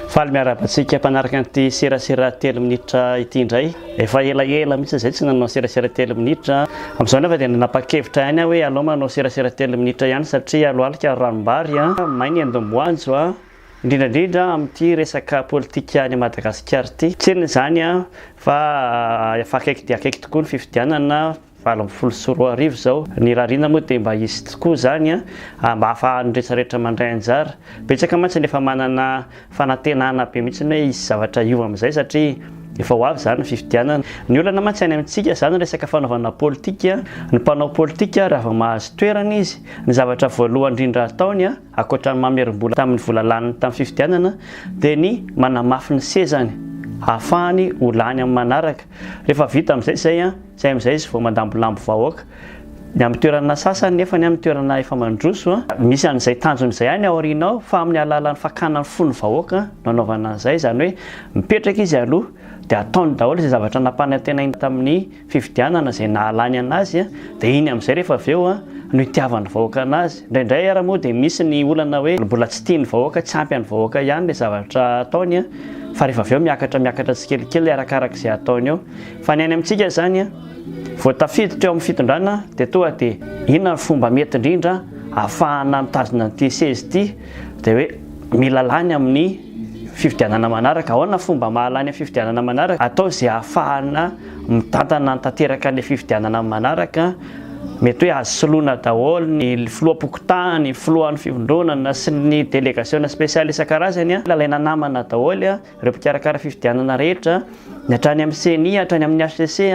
Faly miarahaba antsika mpanaraka an'ity serasera telo minitra ity indray. Efa elaela mihitsy izay tsy nanao serasera telo minitra. Amin'izao nefa dia nanapa-kevitra ihany aho hoe alao manao serasera telo minitra ihany satria alohalika ranom-bary, may ny endom-boanjo. indrindra indrindra amin'ity resaka politika any Madagasikara ity, tsinona izany fa efa akaiky dia akaiky tokoa ny fifidianana valo ambin'ny folo sy roa arivo izao, ny rarina moa dia mba hisy tokoa izany mba hahafahan'ny rehetra rehetra mandray anjara, betsaka mantsy ny efa manana fanantenana be mihitsy hoe hisy zavatra hiova amin'izay satria efa ho avy izany ny fifidianana, ny olana mantsy any amintsika izany resaka fanaovana politika, ny mpanao politika raha vao mahazo toerana izy ny zavatra voalohany indrindra ataony Ankoatra ny mamerim-bola tamin'ny vola laniny tamin'ny fifidianana dia ny manamafy ny sezany hahafahany ho lany amin'ny manaraka. Rehefa vita amin'izay izay, izay amin'izay izy vao mandambolambo vahoaka. Ny amin'ny toerana sasany nefa ny amin'ny toerana efa mandroso, misy an'izay tanjony izay any aoriana ao fa amin'ny alalan'ny fakana ny fon'ny vahoaka no anaovana an'izay izany hoe mipetraka izy aloha dia ataony daholo izay zavatra nampanantenainy tamin'ny fifidianana izay nahalany anazy dia iny amin'izay rehefa avy eo no itiavan'ny vahoaka anazy. Indraindray ary moa dia misy ny olana hoe mbola tsy tian'ny vahoaka, tsy ampy an'ny vahoaka ihany ilay zavatra ataony fa rehefa avy eo miakatra miakatra tsikelikely arakaraka izay ataony eo. Fa ny any amintsika izany vao tafiditra eo amin'ny fitondrana dia toa dia inona ny fomba mety indrindra ahafahana mitazona an'ity seza ity dia hoe mila lany amin'ny fifidianana manaraka. Ahoana ny fomba mahalany amin'ny fifidianana manaraka? Atao izay ahafahana mitantana ny tanteraka ny fifidianana manaraka, mety hoe azo soloina daholo ny filoham-pokontany, ny filohan'ny fivondronana sy ny delegasiona spesialy isan-karazany, alaina namana daholo ireo mpikarakara fifidianana rehetra, ny hatrany amin'ny ceni, hatrany amin'ny HCC,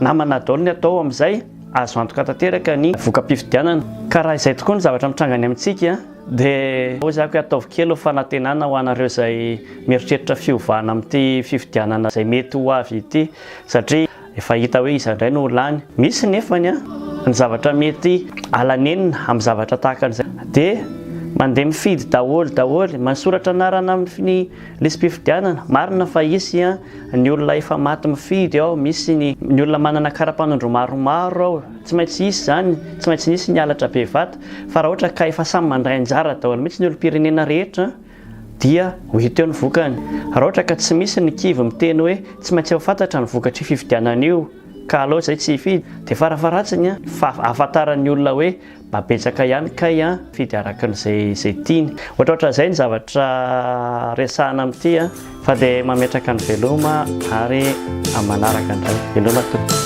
namana daholo ny atao amin'izay, azo antoka tanteraka ny voka-pifidianana. Ka raha izay tokoa ny zavatra mitranga any amintsika, Dia hoezako hoe ataovy kely ho fanantenana ho anareo izay mieritreritra fiovana amin'ity fifidianana izay mety ho avy ity satria efa hita hoe iza indray no ho lany. Misy nefany an, ny zavatra mety ala nenina amin'ny zavatra tahaka an'izay dia mandeha mifidy daholo daholo, manoratra anarana amin'ny lisi-pifidianana, marina fa hisy an, ny olona efa maty mifidy ao, misy ny olona manana kara-panondro maromaro ao, Tsy maintsy hisy izany, tsy maintsy nisy ny halatra be vata, fa raha ohatra ka efa samy mandray anjara daholo mihitsy ny olom-pirenena rehetra dia ho hita eo ny vokany. Raha ohatra ka tsy misy ny kivy miteny hoe tsy maintsy efa fantatra ny vokatr'io fifidianana io ka aleo izay tsy hifidy dia farafaharatsiny fa ahafantaran'ny olona hoe mba betsaka ihany kay an mifidy arakin'izay izay tiany. Ohatraohatran'izay ny zavatra resahana amin'ity an. Fa dia mametraka ny veloma ary amin'ny manaraka indray. Veloma tompoko.